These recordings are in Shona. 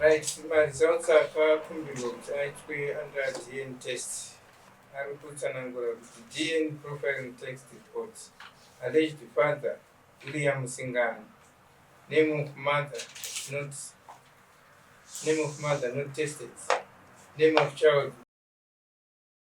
Right, maresults akakumbirwa kuti aitwe under DNA test ari kutsanangura kuti DNA profiling text report alleged father William Singano name of mother not name of mother not tested name of child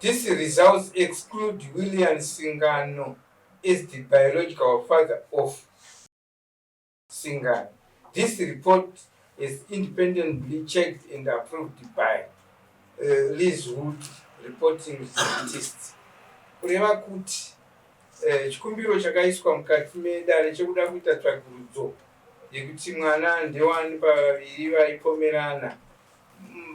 These results exclude Willian Singano as the biological father of Singano. This report is independently checked and approved by uh, Liz Wood reporting scientists. Kureva kuti uh, chikumbiro chakaiswa mukati medare chekuda kuita tsvagurudzo yekuti mwana ndewani pavaviri vaipomerana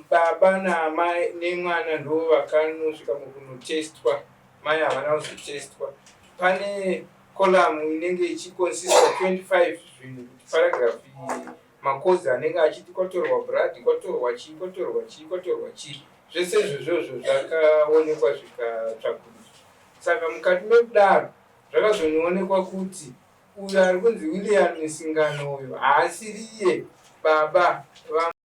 Baba naamai nemwana ndivo vakanosvika mukunotestwa, mai havana kuzotestwa. Pane column inenge ichiconsister 25 zvinhu kuti paragraph iyi makozi anenge achiti kwatorwa brad kwatorwa chii kwatorwa chii kwatorwa chii zvese izvozvozvo zvakaonekwa zvikatsvakurudzwa saka mukati mekudaro zvakazonoonekwa kuti uyo ari kunzi william misingano uyo haasiriye baba va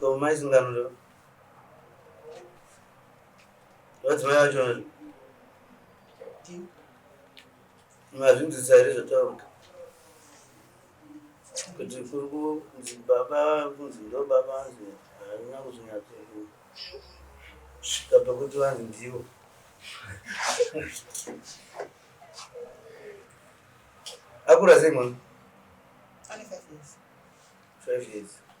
Ko mai sungano ndo. Vadzimai vacho ndo. Mazvinzisa here zvotaura. Kuti kuri kunzi baba kunzi ndo baba anzi harina kuzonyatso kusvika pakuti vanzi ndivo. Akura sei mwana? Ane five years. Five years.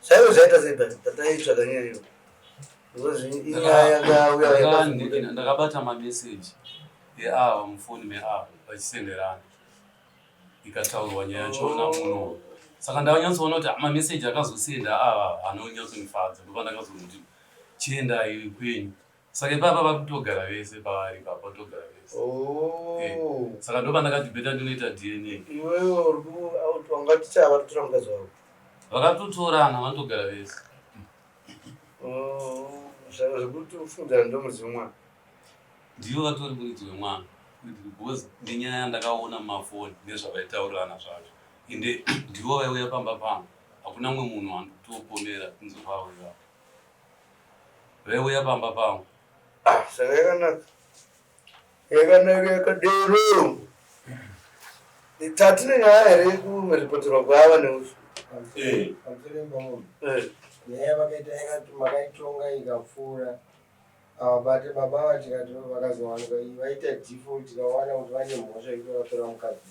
Saiwe zvaita sei but tataitsvaga nyaya iyo. Because inyaya yakauya yakazunguka. ndakabata mameseji eava mufoni meava vachisenderana ikataurwa nyaya yacho na muno saka ndakanyatsoona kuti mameseji akazosenda ava anonyatsondifadza ndopa ndakazonoti chiendai kwenyu Saka ipapa vari kutogara vese pavari ipapa kutogara vese. Oh. Eh, saka ndo pandakati beta ndinoita DNA. Iwewe uri ku out wanga ticha vari kutora mukadzi wavo. Vakatotorana vanotogara vese. Oh, zvaka zvekuti ufungira ndo muridzi wemwana. Ndivo vatori muridzi wemwana. Because nenyaya yandakaona mumafoni nezvavaitaurirana zvacho. Ende ndivo vaiuya pamba pangu. Hakuna mumwe munhu anditopomera kunzi vauya. veuya pamba pangu ah, saka yakanaka yakanaka yakadero tatine nyaya here yekurepoterwa kwava neusu eh. eh. nyaya vakaita yakati makaitonga ikapfuura avabate baba ava tikati vakazowanika vaita default tikawana kuti vane mhosva yekuti vatora mukadzi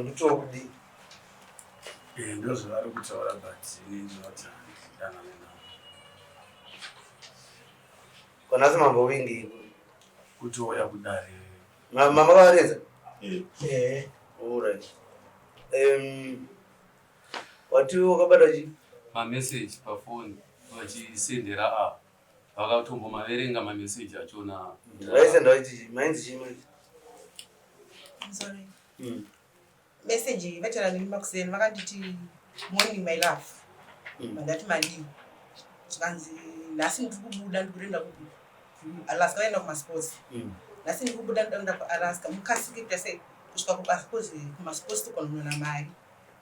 Ndotoo kudii? Eh, ndozvavari kutaura but ini ndinoti handidanane navo. Konasi mambo wingi Kuti wauya kudare ma- mama varedza. eh, Eh, alright. Um, wati wakabata chi mameseji pafoni vachisenderera ava vakatombomaverenga mameseji achona vaisenda vaiti mainzi chii manje hmm. meseji vataura neni makuseni vakanditi morning my love hmm. vandati madii zvikanzi nhasi ndiri kubuda ndiri kurenda kupi alaska vaenda kumasports hmm. nhasi ndiri kubuda ndiri kuenda kualaska mukasike kutase kusvika kubasa kozi kumasports tokononona mari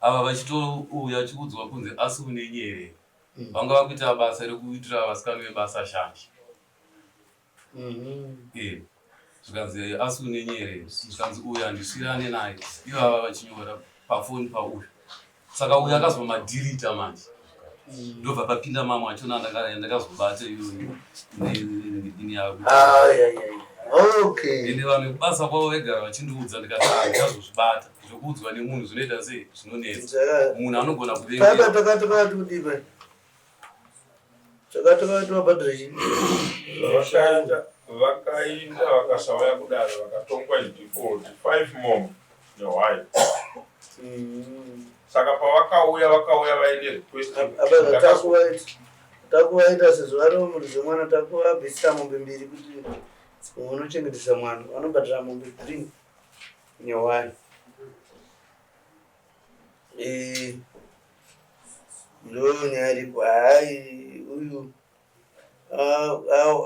ava vachitouya vachikuudzwa kunzi asi une nyerere mm. vanga vakuita basa rekuitira vasikana vebasa shanje mm-hmm. eh, zvikanzi eh, asi une nyerere zvikanzi uyu andisvirane naye ivava vachinyora pafoni pauyu saka uyu akazomadhirita manje ndobva papinda mama achona ndakazobata iyoyo nedini yako ende vanhu vekubasa kwavo vaigara vachindiudza ndikati ndazozvibata zvekuudzwa nemunhu zvinoita sei zvinonetsa munhu anogona kuvengeatakatokatikudiva takatokatobadrezvinoshanda vakainda vakasauya kudaro vakatongwa idhifoti five mom nehwai mm. saka pavakauya vakauya vaine request takuvaita sezvo vari mhuri zvemwana takuvabvisira mombe mbiri kuti umwe unochengetesa mwana vanobhadhira mombe three nehwai eh, ndo nyaya iripo hai uyu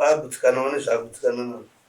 agutsikanawo nezvaagutsikana nazvo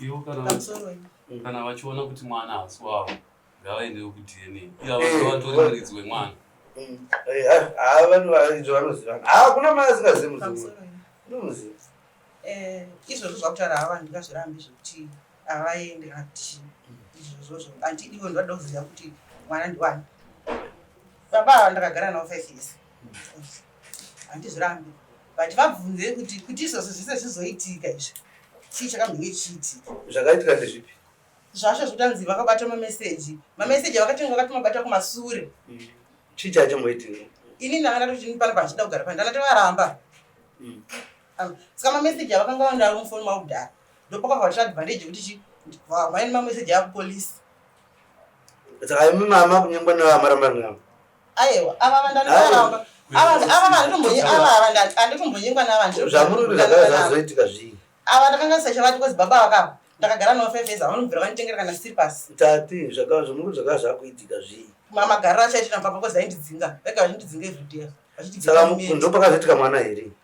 Ivo kana pamusoro ipo kana vachiona kuti mwana haasi wavo ngavaendewo kudna iye avatori muridzi wemwana hakuna mwana asingazivi muzimu unomuziva izvozvo zvakutaura hava ndingazvirambi zvekuti havaende kana kuti izvozvozvo anti ivo ndivada kuziva kuti mwana ndiwani baba ava ndakagara navo five years handizvirambi but vabvunzei kuti kuti izvozvo zvese zvizoitika izvi chii chakambenge chichiitika zvakaitika ndezvipi zvasho zvotanzi vakabata mameseji mameseji avakatenge vakati mabata kumasure mm. chii chachomboitika ini ndanga ndatoti pano pandichida kugara pano ndanga tovaramba mm. um, saka mameseji avakanga vandaro mufoni mavo kudhara ndopakavavatira advantage yekuti chi vamaini mameseji akupolisi saka imi mama kunyangwa nevamarambana navo aiwa ava vandandivaramba ava vanditomboyi ava ava ndati anditombonyengwa navandiazoitika zvii ava ndakanga ndisachavati kozi baba vakava ndakagara navo five years avanobvira vanditengera kana slipas tati zvakava zvomuku zvakava zvakuitika zvii mamagariro achaitira mbaba kozi aindidzinga vega vachindidzinga everyday saka ndopakazoitika mwana here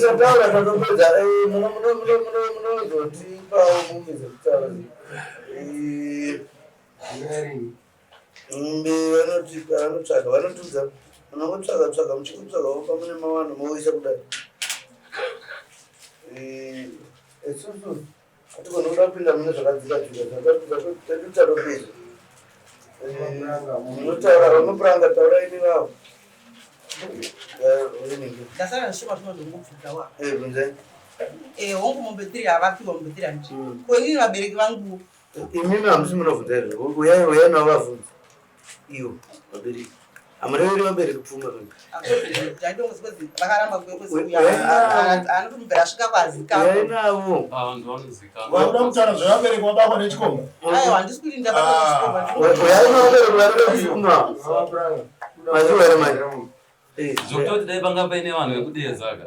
Tataura totopedza munozotipawo mumwe dzekutaura vanotipa vanotsvaga vanotiudza munongotsvaga tsvaga muchingotsvaga wopa mune mawano moisa kudai isusu Hatigoni kuda kupinda mune zvakadzika dzika zvatotaro pizvo. Unotaura unopuranga taura ini vavo. Ndasara zvishoma zvino ndongobvunza wa. Eh bvunzai. Eh hongu mombe tiri havafi mombe tiri hanti. Ko inini vabereki vangu. Imimi hamusi munobvunza izvo. Uyai uyai navo vavhunza. Iyo, vabereki. Amareveri vabereki pfuma mimi. Zvokutoti dai panga paine vanhu vekudeedzaka.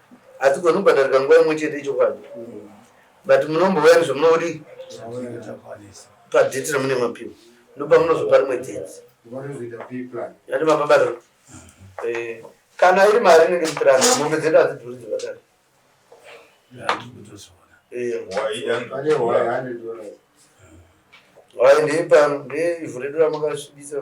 Hadzigoni kubhadharika nguva imwe chete ichokwadi. But munombouya nezvamunoti padheti ramune mapiwa ndopamunozopa rimwe dheti. Yati mapabata. Eh, kana iri mari inenge mupirani mombe dzedu hadzidhuri dzekatari. Eh, hwai ndeipa ndeivhu redu ramakasvibisa.